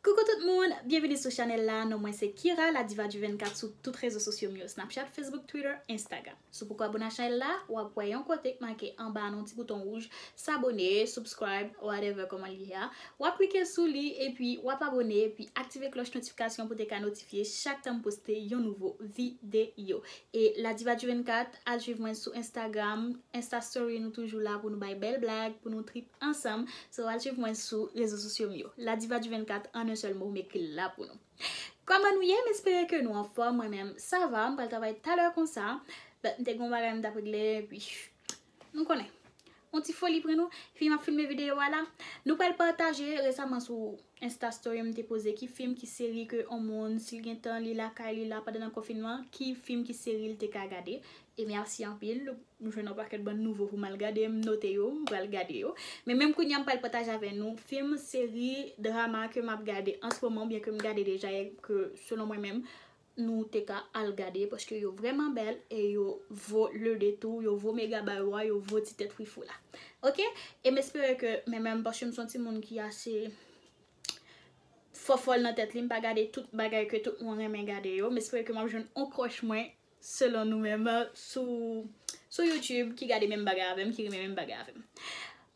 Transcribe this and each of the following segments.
Coucou tout moun, byenvini sou chanèl la, non mwen se Kira la diva du 24 sou tout rezo sosyo m yo Snapchat, Facebook, Twitter, Instagram. Si w poko abone a chanèl la, w ap wè yon kote k make anba an yon ti bouton wouj s'abonner, subscribe, whatever kòman li ye a, w ap klike sou li epi w ap abone epi aktive klòch notifikasyon pou te ka notifye chak tan m poste yon nouvo videyo. E la diva du 24, al swiv mwen sou Instagram, Insta story nou toujou la pou nou bay bèl blag, pou nou trip. ansanm so al swiv mwen sou rezo sosyo m yo la diva du 24 an un sèl mo m ekri l la pou nou kòman nou ye m espere ke nou anfòm mwen menm sa va m pral travay talè konsa but m te gen yon bagay m tap regle epi nou konnen yon ti foli pran nou fi m ap filme videyo a la nou pral pataje resaman sou insta story m te poze ki fim ki seri ke yon moun si l gen tan li lakay li la pandan nan konfinman ki fim ki seri l te ka gade E merci anpil m jwenn yon pakèt bann nouvo pou m al gade m note yo m pral gade yo men menm kounye a m pral pataje avè nou film, seri, drama ke m ap gade an se moman oubyen ke m gade deja e ke selon mwen menm nou te ka al gade paske yo vrèman bèl e yo vo le detour yo vo mega bay ou a yo vo ti tèt frifou la ok e m espere ke men menm paske m se yon timoun ki ase fòfòl nan tèt li m pa gade tout bagay ke tout moun renmen gade yo m espere ke m ap jwenn yon kòch mwen Selon nou menm sou sou youtube ki gade menm bagay avèm ki renmen menm bagay avèm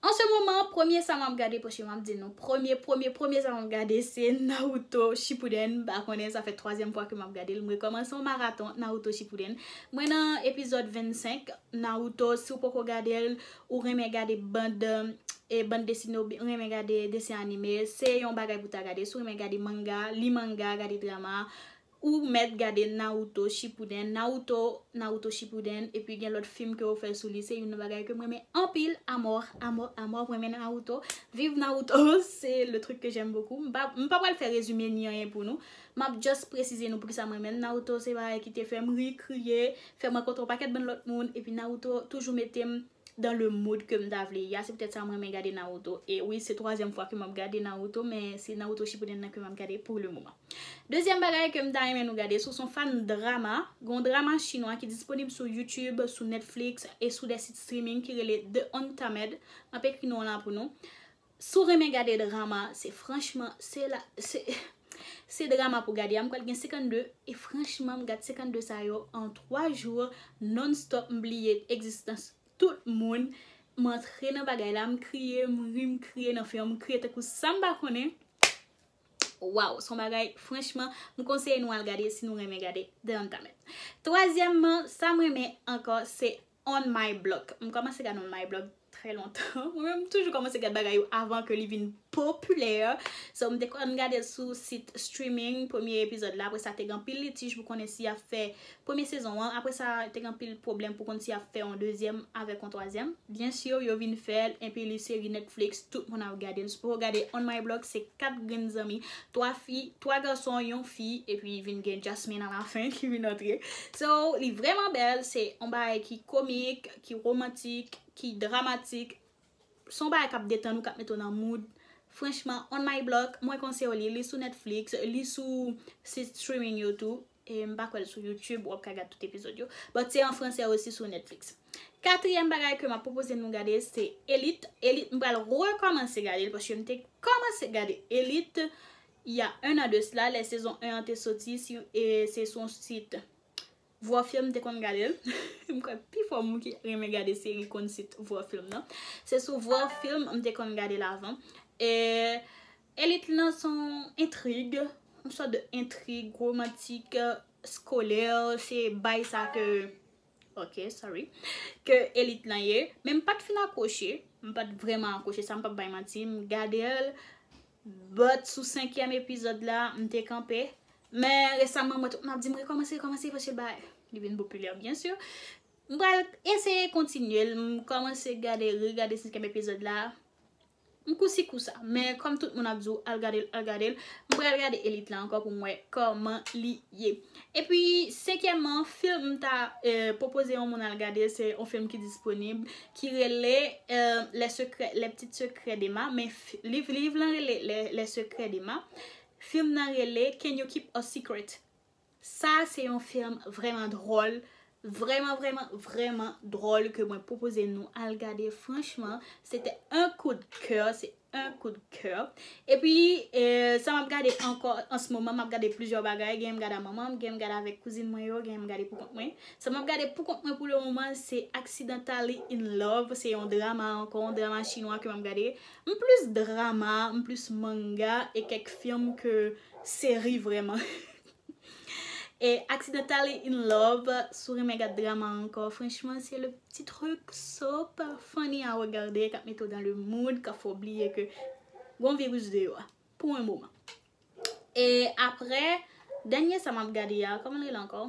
an se moman premye sa map gade paske map di nou premye premye premye sa map gade se Naruto Shippuden m pa konnen sa fè twazyèm fwa ke map gadel m rekomanse yon maraton Naruto Shippuden mwen nan epizòd 25 Naruto si w poko gadel ou renmen gade band e band desine ou renmen gade desen anime se yon bagay pou ta gade si w renmen gade manga li manga gade drama Ou mèt gade Naruto Shippuden, Naruto, Naruto Shippuden, epi gen lòt fim ke yo fè sou li, se youn nan bagay kem renmen anpil a mort, a mort, a mort, m renmen Naruto, viv Naruto, se le truc que j'aime beaucoup, m pa, m pa pral fè rezime ni anyen pou nou, map just presize nou poukisa m renmen l, Naruto se bagay ki te fèm ri, kriye, fèm rankontre yon pakèt bann lòt moun, epi Naruto toujou metem dans le mood kem ta vle ye a, se poutèt sa m renmen gade Naruto, e wi se twazyèm fwa ke map gade Naruto, men se Naruto Shippuden nan ke map gade pour le moment. Dezyèm bagay ke m ta renmen nou gade sou son fan drama, gen yon drama chinwa ki disponib sou YouTube, sou Netflix e sou de sit streaming ki rele The Untamed, m ap ekri non an la pou nou. Si w renmen gade drama, se franchman, se la, se, se drama pou gade a, m kwè l gen 52 e franchman m gad 52 sa yo an 3 jou non stop m bliye egzistans tout moun, m antre nan bagay la, m kriye, m ri, m kriye nan fen an, m kriye tankou sa m pa konnen. Waw son bagay franchman m konseye nou al gade si nou renmen gade The Uncommon. Twazyèmman sam renmen ankò se On My Block. M kòmanse gad On My Block trè lontan. Mwen menm m toujou kòmanse gad bagay yo avan ke li vin popilè. So m te konn gade l sou sit streaming premye epizòd la apresa te gen anpil litij pou konnen si yap fè Premye sezon an, apre sa te gen anpil pwoblèm pou konn si yap fè yon dezyèm avèk yon twazyèm. Byen sur yo vin fèl enpi li seri Netflix tout moun ap gadel. Sipow ou gade On My Block se 4 grenn zanmi, 3 fi, 3 gason, yon fi epi vin gen Jasmine a la fin ki vin antre. So li vrèman bèl, se yon bagay ki komik, ki romantik, ki dramatik, se yon bagay kap detann ou, kap mete w nan mood. Franchman On My Block mwen konseyew li, li sou Netflix, li sou sit streaming yo tou. E m pa kwè l sou YouTube wap ka gad tout epizod yo. But se an fransè osi sou Netflix. Katriyèm bagay ke map pwopoze nou gade se Elite. Elite m pral rekòmanse gade l paske m te kòmanse gade Elite il y a un an de cela lè sezon 1 an te soti si e se sou yon sit Vwafilm m te konn gade l. M kwè pifò moun ki renmen gade seri konn sit Vwafilm nan. Se sou Vwafilm m te konn gade l avan. E Elit lan son entrig, yon sòt de entrig romantik, skolè, se bay sa ke, ok sorry, ke elit lan ye. Men m pat fin akwoche, m pat vrèman akwoche sa m pap bay manti, m gade l, but sou senkyèm epizòd la m te kanpe. Men resaman mwen tout moun ap di m rekòmanse, rekòmanse paske ba li vin popilè byen sur. M pral eseye kontinye l, m kòmanse gade, regade senkyèm epizòd la. M kou si kou sa. Men kòm tout moun ap di w al gade l, al gade l, m pral gade Elite la ankò pou m wè kòman li ye. Epi senkyèman film m ta pwopoze yon moun al gade se yon film ki disponib ki rele les secrets les petites secrets d'Emma men liv liv lan rele les secrets d'Emma film nan rele can you keep a secret Sa se yon film vrèman dròl, vrèman vrèman vrèman dròl ke mwen pwopoze nou al gade franchman se te un coup de coeur, se un coup de coeur. Epi sa map gade ankò an se moman map gade plizyè bagay, genyen m gade a manman m, genyen m gade avèk kouzin mwen yo, genyen m gade pou kont mwen. Sa map gade pou kont mwen pou le moman se Accidentally in love, se yon drama ankò, yon drama chinwa ke map gade. M plus drama, m plus manga e kèk film ke seri vrèman. E accidentally in love, si w renmen gad drama ankò, franchman se le pti truc so funny a regarder kap mete w dans le mood, kap fè w bliye ke gon virus deyò a pou un moman. E aprè, dènye sa map gade a, kòman l rele ankò?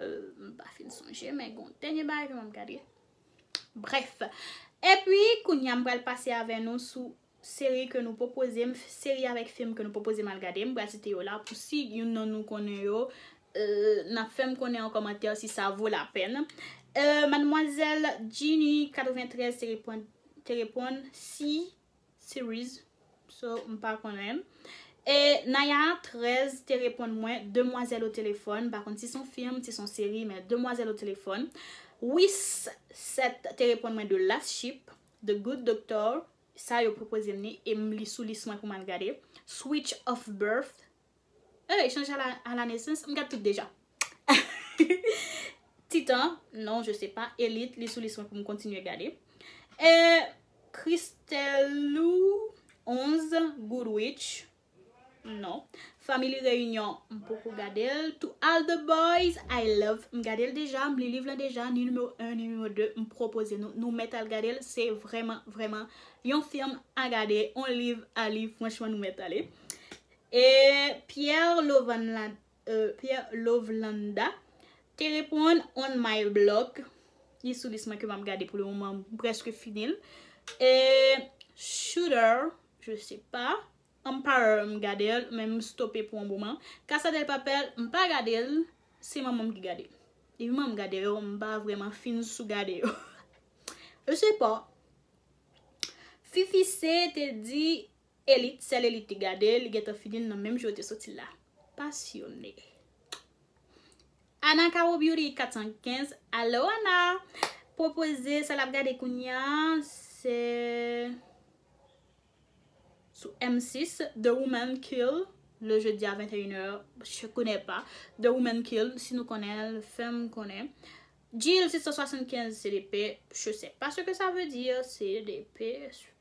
Eum m pa fin sonje men gon dènye bagay ke map gade. Bref. Epi, kounye a m pral pase avè nou sou seri ke nou pwopoze m, seri avèk fim ke nou pwopoze m al gade. M pral site yo la pou si youn nan nou konnen yo, n ap fè m konnen an kòmantè si sa vo lapèn. Madmwazèl Djini 93 te reponn si. series so m pa konnen e naya 13 te reponn mwen demwazèl o telefòn m pa konn si son film si son seri men demwazèl o telefòn wis 7 te reponn mwen de last ship the good doctor sa yo pwopoze m ni e m li sou lis mwen pou m al gade switch of birth Hey chanje a la nesans m gad tout deja Titan non je sais pas Elite li sou lis mwen pou m kontinye gade eh Christelou 11 Good witch non Family reunion m poko gade l To all the boys I love m gade l deja m li liv lan deja ni nimewo 1 ni nimewo 2 m pwopoze nou nou mèt al gade l se vrèman vrèman yon film a gade yon liv a li franchman nou mèt ale. E Pierre Lovlanda te reponn on my blog, li sou lis mwen ke map gade pou le moman, m preske fini l. E Shooter, je se pa, Emperor m gade l, men m stope pou on moman. Casa del Papel, m pa gade l, se manman m ki gade l. Depi manman m gade yo, m pa vreman fin sou gade yo. Je se pa. Fifi C te di, Elit, sèl elit li gade, li gentan fini l nan menm jou yo te soti la. Pasyone. Ana Caro Beauty 415, Alo Ana! Pwopoze sa l ap gade kounya se sou M6, The Woman Kill, le jeudi a 21 è, je connais pas, The Woman Kill, si nou konnen l, fè m konnen. Jil 675, CDP, je sais pas ce que ça veut dire, CDP,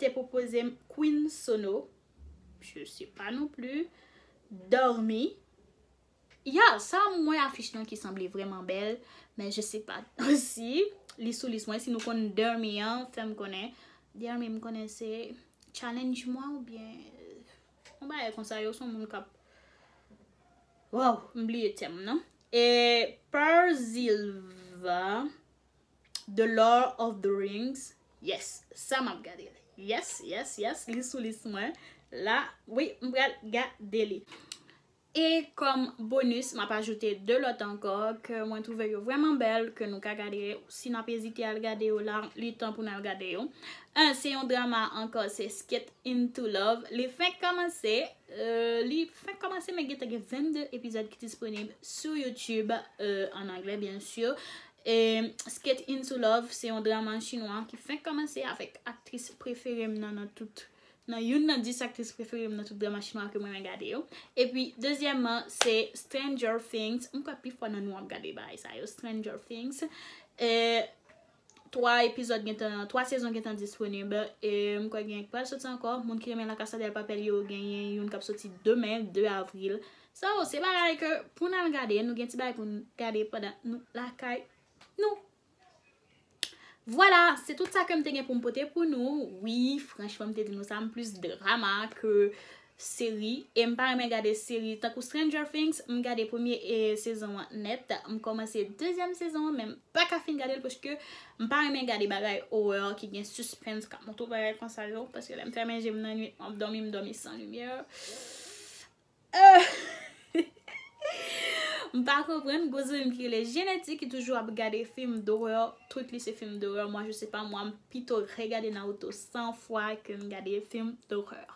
te pwopozem Queen Sono je sais pas non plus Dormi Ya sa m wè afich lan ki sanble vrèman bèl men je sais pas si li sou lis mwen si nou konn Dormi an fèm konnen Dormi m konnen se Challenge mwen ou byen yon bagay konsa yo son moun kap Waww m bliye tèm nan e Perzilva. The Lord of the Rings Yes, sa map gade li Yes, yes, yes, li sou lis mwen la Wi, m pral gade li E kòm bonus, map ajoute 2 lòt ankò ke mwen twouve yo vrèman bèl ke nou ka gade Si nap ezite al gade yo la, li tan pou n al gade yo 1 se yon drama ankò se Skate into Love Li fenk kòmanse Li fenk kòmanse men gen te gen 22 epizòd ki disponib sou YouTube an anglè byen sur E Skate Into Love se yon draman chinwa ki fenk kòmanse avèk aktris prefere m nan nan tout nan youn nan 10 aktris prefere m nan tout draman chinwa ke m renmen gade yo. Epi dezyèmman se Stranger Things, m kwè pifò nan nou ap gade bagay sa yo Stranger Things e 3 epizòd gen tan 3 sezon gen tan disponib e m kwè gen yon ki pral soti ankò moun ki renmen La Casa del Papel yo genyen youn k ap soti demen 2 avril 2023. Sa yo se bagay ke pou n al gade, nou gen ti bagay pou n gade pandan nou lakay nou. Vwala, se tout sa ke m te gen pou m pote pou nou. Wi, franchman m te di nou sa, m plis drama ke seri. E m pa renmen gade seri tankou Stranger Things, m gade premye sezon an nèt. M kòmanse dezyèm sezon an men m pa ka fin gade l paske m pa renmen gade bagay horror ki gen suspens k ap montre w bagay konsa yo. Paske lè m fèmen je m nannuit m ap dòmi, m dòmi san limyè. M pa konprann gwo zanmi m ki rele Jenetti ki toujou ap gade film d'horreur tout li se film d'horreur moi je sais pas moi m pito regade Naruto 100 fwa ke m gade film d'horreur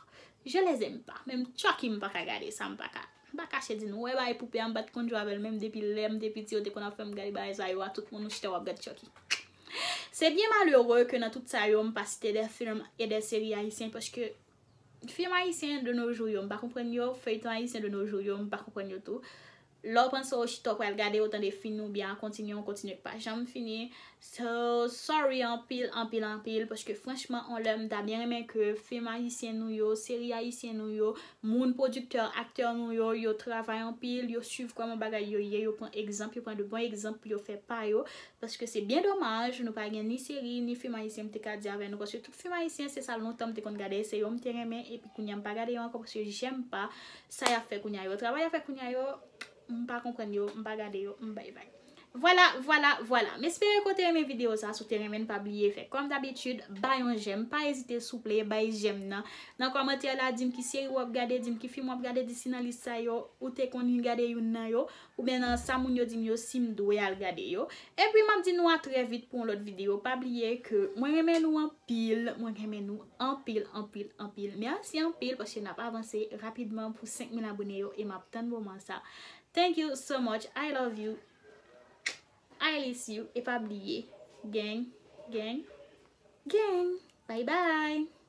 je les aime pas menm Chucky m paka gade sa m paka m pa kache di nou wè bagay poupée a m pat konn jwe avèl menm depi lèm te piti yo te konn ap fèm gade bagay sa yo a tout moun ou chita wap gad Chucky se byen malere ke nan tout sa yo m pa site de film e de seri ayisyen paske Film ayisyen de nos jours yo m pa konprann yo, feuilleton ayisyen de nos jours yo m pa konprann yo tou. Lè w panse w chita w pral gade ou tande fin ou byen a kontinye yon kontinye k pa janm fini so sorry anpil anpil anpil paske franchman on lè m ta byen renmen ke film ayisyen nou yo, seri ayisyen nou yo, moun pwodiktè, aktè nou yo, yo travay anpil, yo swiv kòman bagay yo ye, yo pran egzanp, yo pran de bon egzanp pou yo fè pa yo paske se byen domaj nou pa gen ni seri ni film ayisyen m te ka di avè nou paske tout. Film ayisyen se sa lontan m te konn gade se yo m te renmen epi kounya m pa gade yo ankò paske jèm pa sa yap fè kounya yo travay yap fè kounya yo m pa konprann yo m pa gade yo m bay bay vwala vwala vwala m espere ke w te renmen video sa si w te renmen l pa bliye fè kòm dabitid bay yon jèm pa ezite souple bay jèm nan nan kòmantè la di m ki seri wap gade di m ki film wap gade di si nan lis sa yo ou te konn gade youn nan yo Oubyen nan sa moun yo dim yo sim dwe al gade yo. Epi map di nou a trè vit pou yon lòt video pa bliye ke mwen renmen nou anpil mwen renmen nou anpil anpil anpil merci anpil paske nap avanse rapidman pou 5000 abone yo e map tann moman sa thank you so much I love you I liss you e pa bliye geng geng geng bye bye.